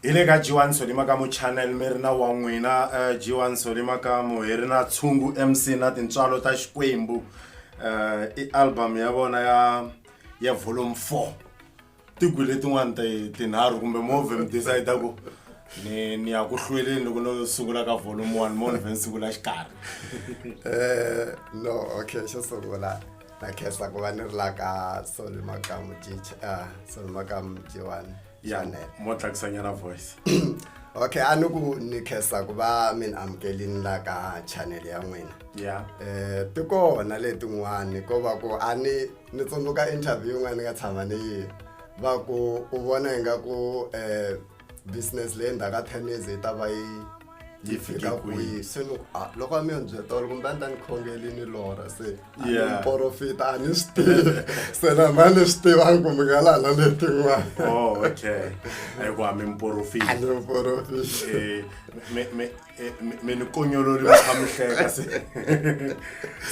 hi le ka jiwani solimaka mu channel mi ri na wa n'wina um eh, jiwani solimaka mu hi ri na tshungu mc na tintswalo ta xikwembu um i album ya vona ya ya volume four tigwi letin'wana tinharhu kumbe move mi decide ku ni ni ya ku hlweleni loko no sungula ka volume one mo ni vhe ni sungula xikarhi um no okay xo sungula ta khensa ku va ni ri la ka sol makamu ah, sol makamu jiwani chanel mo tlakusanyana voice okay a ni ku ni khensa ku va mi ni amukelini la ka chanel ya n'wina ya um ti kona letin'wani ko va ku a ni ni tsundzuka interview yin'wana ni nga tshama ni yi va ku u vona ingaku um business leyi endzhaku ka ten years yi ta va yi yi fika kwihi se ni ah, loko a mi yo ni byetolo kumbe a ni ta ni khongeli ni lora se porofita a ni swi tivi se na ma ni swi tivangi kumbe nga laha na letin'wana oh, okay hikuva mi miporofita ni miporofita eh, eh, mi ni konyolori mi kha mi hleka se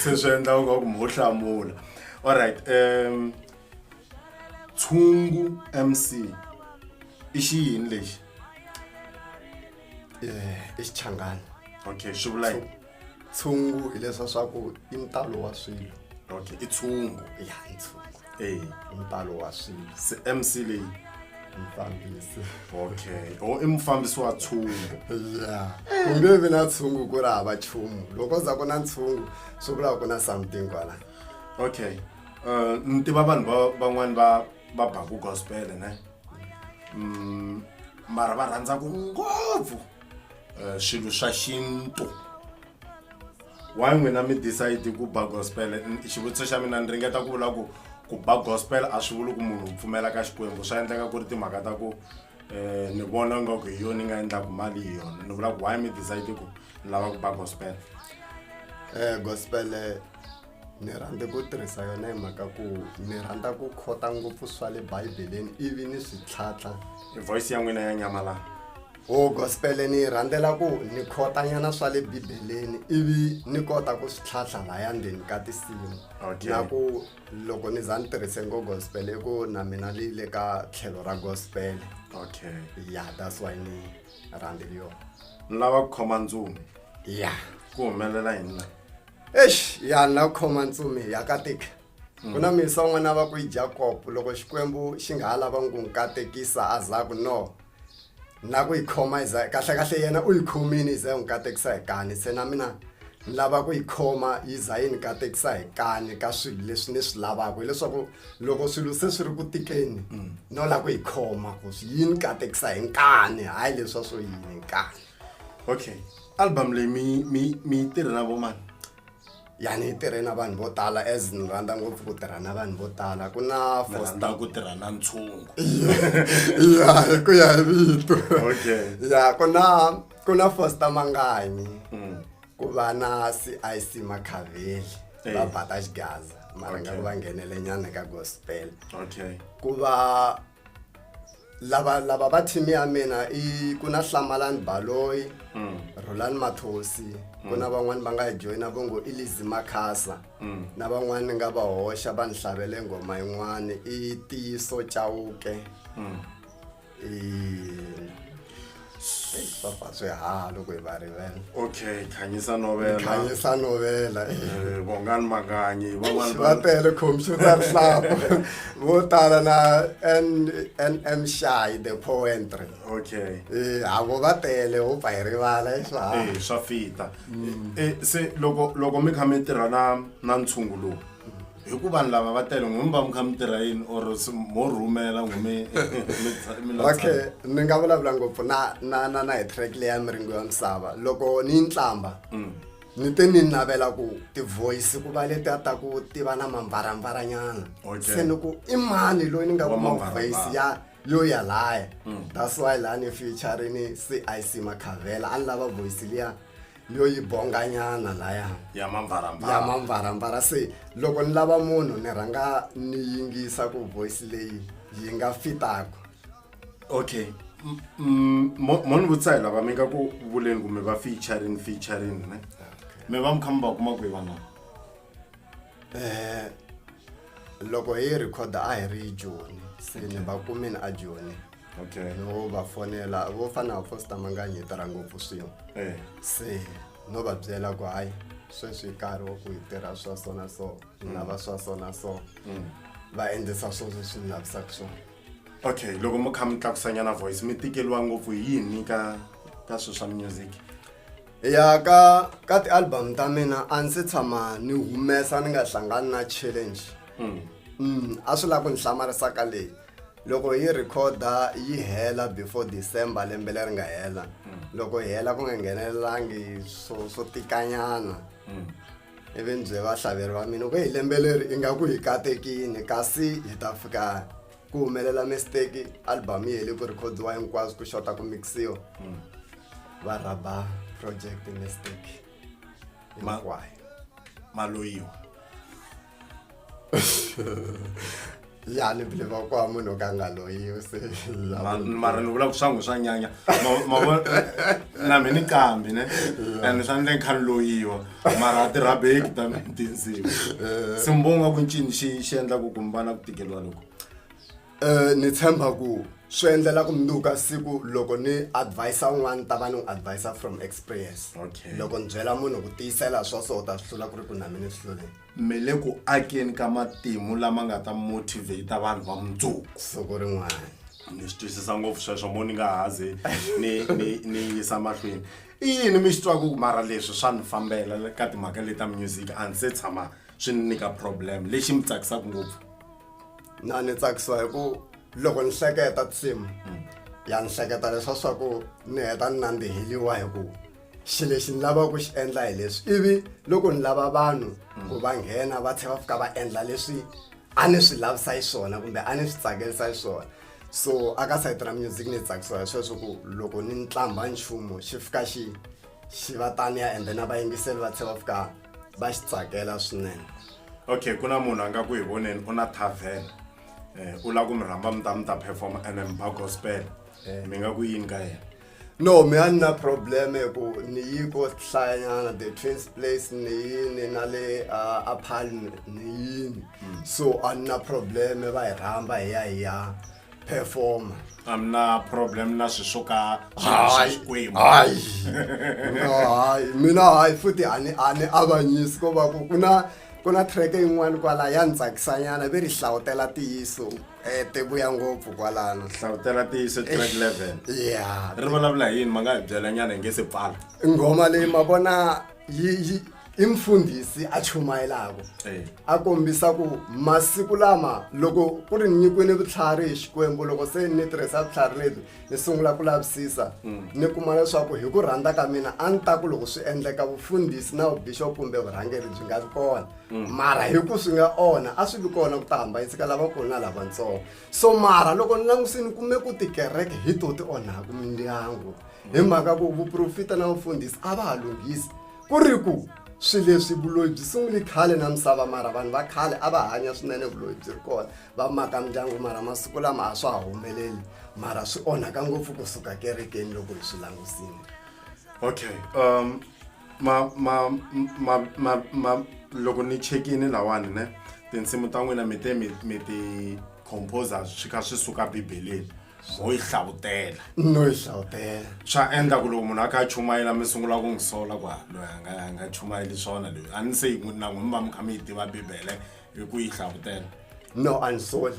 se swi endla ungaku mi ho hlamula all right um tshungu mc i xi yini lexi eh, i xichangani okay swi vula yini tshungu hileswa swa ku i ntalo wa swilo okay i tshungu ya i tshungu e ntalo wa swilo se mc leyi mfambisi okay o oh, i mufambisi wa tshungu ya ku nge vi na tshungu ku ri hava chumu loko za ku na ntshungu swi vula ku na something kwala okay um ni tiva vanhu va van'wani va va baku gospele ne um mara va rhandzaku ngopfu um swilo swa xintu why n'wina mi decide ku ba gospel xivutiso xa mina ni ringeta ku vula ku ku ba gospel a swi vuli ku munhu u pfumela ka xikwembu swa endleka ku ri timhaka ta ku um ni vona nga ku hi yona ni nga endlaku mali hi yona ni vula ku why mi decide ku ni lava ku ba gospel um gospele ni rhandze ku tirhisa yona hi mhaka ku ni rhandza ku khota ngopfu swa le bibeleni ivi ni swi tlhatlha hi voice ya n'wina ya nyamalala o oh, gospel ni yi rhandzela ku ni khotanyana swa le bibeleni ivi ni kota ku swi tlhatlha laya ndzeni ka tinsimu na ku loko ni za ni tirhise ngo gospel i ku na mina leyi le ka tlhelo ra gospel okay ya that's why ni rhandzeli yona ni lava ku khoma ndzumi ya ku humelela hi mina eish ya na khoma ntsumi ya katika ku na misa un'wana va ku yi jakob loko xikwembu xi nga ha lava ku n'wi katekisa a za ku no na ku yi khoma yi za kahlekahle yena u yi khomini yi za yi n'wi katekisa hi kani se na mina ni lava ku yi khoma yi za yi ni katekisa hi kani ka swilo leswi ni swi lavaka hileswaku loko swilo se swi ri ku tikeni no lava ku yi khoma ku swi yi ni katekisa hi nkani hayi leswa swo yini hi nkani okay album leyi mi mi mi yi tirhe na vo mani ya ni yi tirhe na vanhu vo tala as ni rhandza ngopfu ku tirha na vanhu vo tala ku na Ni fosta rhandza ku tirha na ntshungu ya hi ku ya hi vito okay ya ku na ku na fosta manganyi Mm. ku va na cic makhaveli Eh. va bata xigaza mara nga Okay. ku va nghenele nyana ka gospel okay ku va lava lava va team ya mina i ku na hlamalani baloyi mm. rolani mathosi ku mm. na van'wani va nga hi joyina vo ngo i lizi makhasa mm. na van'wani ni nga va hoxa va ni hlavele nghoma yin'wani i tiyiso chawuke mm. i papa swi ha loko hi va rivela okay khanyisa novela khanyisa novela eh, vongani makanyi va tele computer rihlapo vo tala na nm shy the poentry okay eh, havo va tele ho pfa hi rivala i swa eh, swa fita mm. se loko loko mi kha mi tirha na na ntshungu lowu hi ku vanhu lava va tele n'wini va mi kha mi tirha yini or s- mo rhumela n'wi mi mi tsa- mi la okay tshama. ni nga vulavula ngopfu na na na na hi track leya miringo ya misava loko ni yi ntlamba ni te ni navela ku ti-voice ku va leti a ta ku ti va na mambarambaranyana Okay. se ni ku i mani loyi ni nga Wa kuma mambarambara. voice ya yo yalaya that's why laha ni featurini cic makhavela a ni lava voice liya yo yi bonganyana laya ya mambarambara ya mambarambara se loko ni lava munhu ni rhanga ni yingisa ku voice leyi yi nga fitaka okay mo ni vutisa hi lava mi nga ku vuleni kumbe va featuring featuring ne mi va mi kha mi va kuma kwihi van'wana Eh, loko hi rhikhoda a hi ri joni se ni va kumini a joni okay no va fonela vo fana na fosta manganyi hi tirha ngopfu swin'we eh se no va byela ku hayi sweswi hi nkarhi wa ku hi tirha swa so na so hi nga va swa so na so va endlisa swo leswi ni lavisaka swona okay loko mi kha mi tlakusanyana voice mi tikeliwa ngopfu hi yini ka ka swilo swa music ya ka ka ti-album ta mina a ndzi tshama ni humesa ni nga hlangani na challenge hmm. mm, a swi lava ku ni hlamarisaka leyi loko yi rhikhoda yi hela before december lembe leri nga hela hmm. loko yi hela ku nga nghenelelangi swo swo tikanyana hmm. ivi ni bye vahlaveleri va mina ku hi lembe leri ingaku hi katekini kasi hi ta fika ku humelela mistake album yi hele ku rhikhodiwa hinkwaswo ku xota ku mixiwa hmm. va rhaba project mistake hinkwayo maloyiwa ya ni bile va kwa munhu ka nga loyiwi se mara ni vula ku swangu swa nyanya na mi ni kambi ne and swa ni le ni kha ni loyiwa mara a tirhabeki tanihi tinsimu eh. simbonga ku ncini xi xi endla ku kumbana ku tikeriwa loko um ni tshemba ku swi endlela ku munduka siku loko ni advisa un'wana ta va ni n'wi advisa from experience okay. loko ni byela munhu ku tiyisela swa so u ta swi hlula ku ri ku na mina swi hluleni mi le ku akeni ka matimu lama nga ta motivate vanhu va mundzuku siku rin'wana ni swi twisisa ngopfu sweswo mo ni nga hazi ni ni ni yisa mahlweni i yini mi xi twaka ku mara leswi swa ni fambela ka timhaka leti ta music a ni se tshama swi ni nyika problem lexi mi tsakisaka ngopfu na ni tsakisa hi ku loko ni hleketa tinsimu ya ni hleketa leswa swa ku ni heta ni nandziheliwa hi ku xi lexi ni lavaka ku xi endla hi leswi ivi loko ni lava vanhu ku va nghena va tlhela va fika va endla leswi a ni swi lavisa yi swona kumbe a ni swi tsakelisa yi swona so aka sayiti ra music ni tsakisiwa hi sweswo ku loko ni ntlambha nchumu xi fika xi xi va taniya and then a vayingiseli va tlhe va fika va xi tsakela swinene okay ku na munhu a nga ku hi voneni u na tavern um u lava ku mi rhamba mi ta mi ta performa and mba gospel eh. mi nga ku yini ka yena no mi a ni na problem hi ku ni yi ko hlayanyana the twins place ni yini na le uh, apal ni yini hmm. so a ni na problem va hi rhamba hi ya hi ya performa a mi na problem na swi swo ka hayi hayi mina hayi futhi a ni a ni avanyisi ko va ku ku na ku na track yin'wana kwala ya ni tsakisanyana ve ri hlawutela tiyiso Eh, ti vuya ngopfu kwalano hlavutela tiyiso track 11 ya ri vulavula hi yini ma nga hi byela nyana hi nge se pfala nghoma leyi ma vona yi yi i mfundhisi a chumayelako Eh. a kombisa ku masiku lama loko ku ri ni nyikiwini vutlhari hi xikwembu loko se ni tirhisa vutlhari lebyi ni sungula ku lavisisa ni kuma leswaku hi ku rhandza ka mina a ni ta ku loko swi endleka vufundhisi na vubixop kumbe vurhangeri byi nga vi kona Mm. mara hi ku swi nga onha a swi vi kona ku ta hambaniseka lavakulu na lavatsongo so mara loko ni langusini kume ku tikereke hi to ti onhaka mindyangu hi mm. mhaka ku vuprofita na vufundhisi a va ha lunghisi ku ri ku swi leswi vuloyi byi sunguli khale na misava mara vanhu va khale a va hanya swinene vuloyi byi ri kona va maka mindyangu mara masiku lama a swa ha humeleli mara swi onhaka ngopfu kusuka kerekeni loko hi swi langusini okay um ma ma ma ma ma loko ni chekini lawani ne tinsimu ta n'wina mi te mi mi ti composer swi kha swi suka bibeleni ho yi hlavutela no yi hlavutela swa endla ku loko munhu a kha a chumayela mi sungula ku n'wi sola ku loyi a nga a nga chumayeli swona loyi a ni se yi n'wi na n'wi mi va mi kha mi yi tiva bibele hi ku yi hlavutela no a ni soli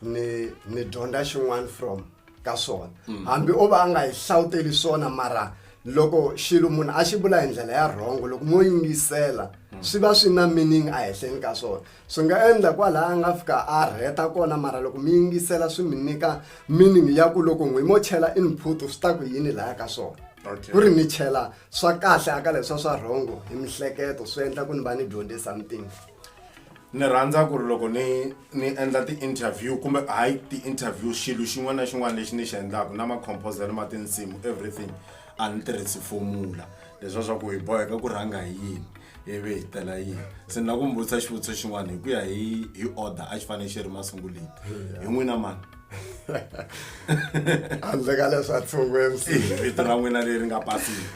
ni ni dyondza xin'wana from ka swona mm. hambi o va a nga hi hlawuteli swona mara loko xilo munhu a xi vula hi ndlela ya rhongo loko mo yingisela mm. swi va swi na meaning a hehleni ka swona swi nga endla kwalaha a nga fika a rheta kona mara loko mi yingisela swi mi nyika meaning ya ku loko n'wi mo chela input swi ta ku yini laya ka swona ku ri ni chela swa kahle aka leswa swa rhongo hi mihleketo swi endla ku ni va ni dyondze something ni rhandza ku ri loko ni ni endla ti-interview kumbe hayi ti-interview xilo xin'wana na xin'wana lexi ni xi endlaka na macompose ni ma tinsimu everything a ni tirhisi fomula leswa swa ku hi boheka ku rhanga hi yini ivi hi tela yini se ni la ku mi vutisa xivutiso xin'wana hi ku ya hi hi order a xi fanele xi ri masunguleni hi n'wina mani handle ka leswi a tshungwe mc vito ra n'wina leri nga pasini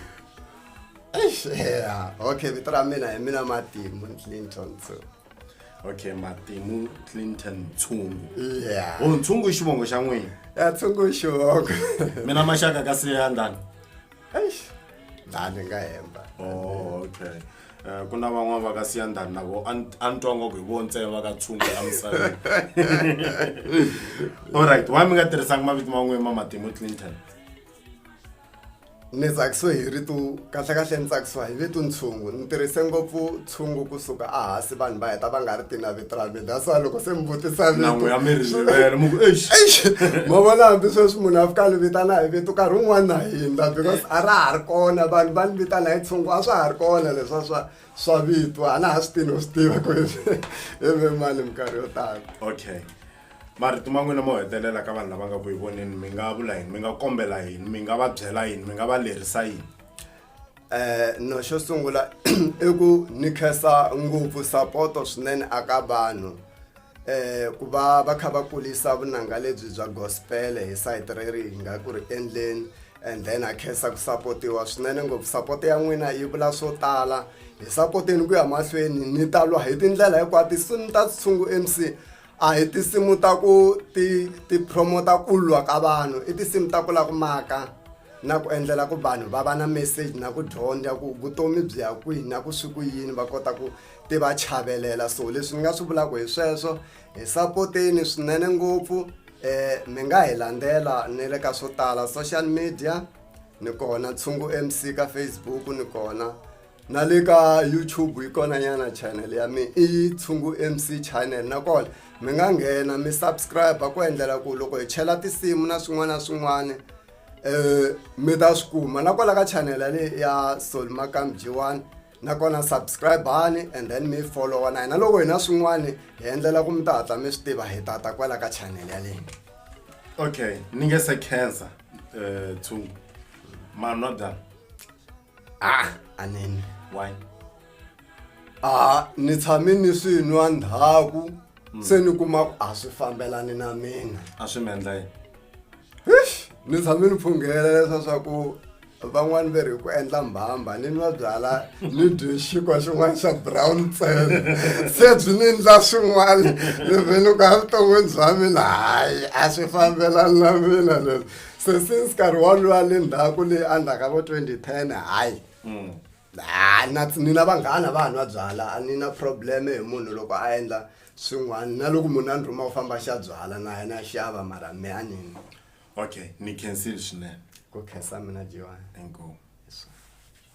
Eish, yeah. okay vito ra mina hi mina matimu clinton so okay matimu clinton ntshungu yeah o ntshungu i xivongo xa n'wina ya tshungu i xivongo mina maxaka ka siya ndani eish ndani nga hemba oh okay Eh, ku na van'wana va ka siya ndani na vo a ni- a ni twa ngoko hi vo ntsena va ka tshungu la misaveni allright why mi nga tirhisanga mavito man'wini ma matimu clinton Ni tsakisiwe hi rito kahlekahle ni tsakisiwa hi vito ntshungu ni tirhise ngopfu ntshungu kusuka a hansi vanhu va heta va nga ri tina vito ra mina that's why loko se mi vutisa Nangu ya mi ri rivele, mi ku, "Eish." ma vona hambi sweswi munhu a fika ni vitana hi vito nkarhi wun'wani na hindza because a ra ha ri kona vanhu va ni vitana hi tshungu a swa ha ri kona leswa swa swa vito a na ha swi tini u swi tiva ku hi hi ve mani minkarhi yo tala okay marito ma n'wina mo hetelela ka vanhu lava nga ku yi voneni mi nga vula yini mi nga kombela yini mi nga va byela yini mi nga va lerisa yini um no xo sungula i ku ni khensa ngopfu sapoto swinene aka vanhu um ku va va kha va kulisa vunanga lebyi bya gospel hi sayiti reri hi nga ku ri endleni and then a khensa ku sapotiwa swinene ngopfu sapoto ya n'wina yi vula swo tala hi sapoteni ku ya mahlweni ni ta lwa hi tindlela hinkwato ni ta tshungu m c a hi tinsimu ta ku ti ti promota ku lwa ka vanhu i tinsimu ta ku la ku maka na ku endlela ku vanhu va va na message na ku dyondza ku vutomi byi ya kwihi na ku swi ku yini va kota ku ti va chavelela so leswi ni nga swi vulaka hi sweswo hi sapoteni swinene ngopfu um mi nga hi landzela ni le ka swo tala social media ni kona ntshungu mc ka facebook ni kona na le ka youtube yi kona nyana channel ya mina i tshungu mc channel nakona mi nga nghena mi subscribe ku endlela ku loko hi chela tinsimu na swin'wana na swin'wana um mi ta swi kuma nakona ka channel yaleyi ya sol makam g one nakona subscribani and then mi followa na hina loko hi na swin'wana hi endlela ku mi ta hatla mi swi tiva hi tata kwala ka channel yaleyi okay ni nge se khensa um tshungu manwa byana ah anene why a ni tshame ni swi nwa ndhaku hmm. se ni kuma ku a swi fambelani na mina a swi mi endla yini ni tshame ni phunghela leswa swa ku van'wani ve ri ku endla mbhamba ni nwa byala ni dye xikwa xin'wana xa brown tsel se byi ni ndla swin'wana ni vhele ku a vuton'wini bya mina hayi a swi fambelani na mina leswi se since nkarhi wolowo le ndzhaku leyi a ndzhaka vo 2010 hayi mm. ha na ni na vanghana va nwa byala a ni na problem hi munhu loko a endla swin'wana na loko munhu a ni rhuma u famba xa byala na yena a xava mara me a nini okay ni cancel swinene ku khensa mina jiwani inkomu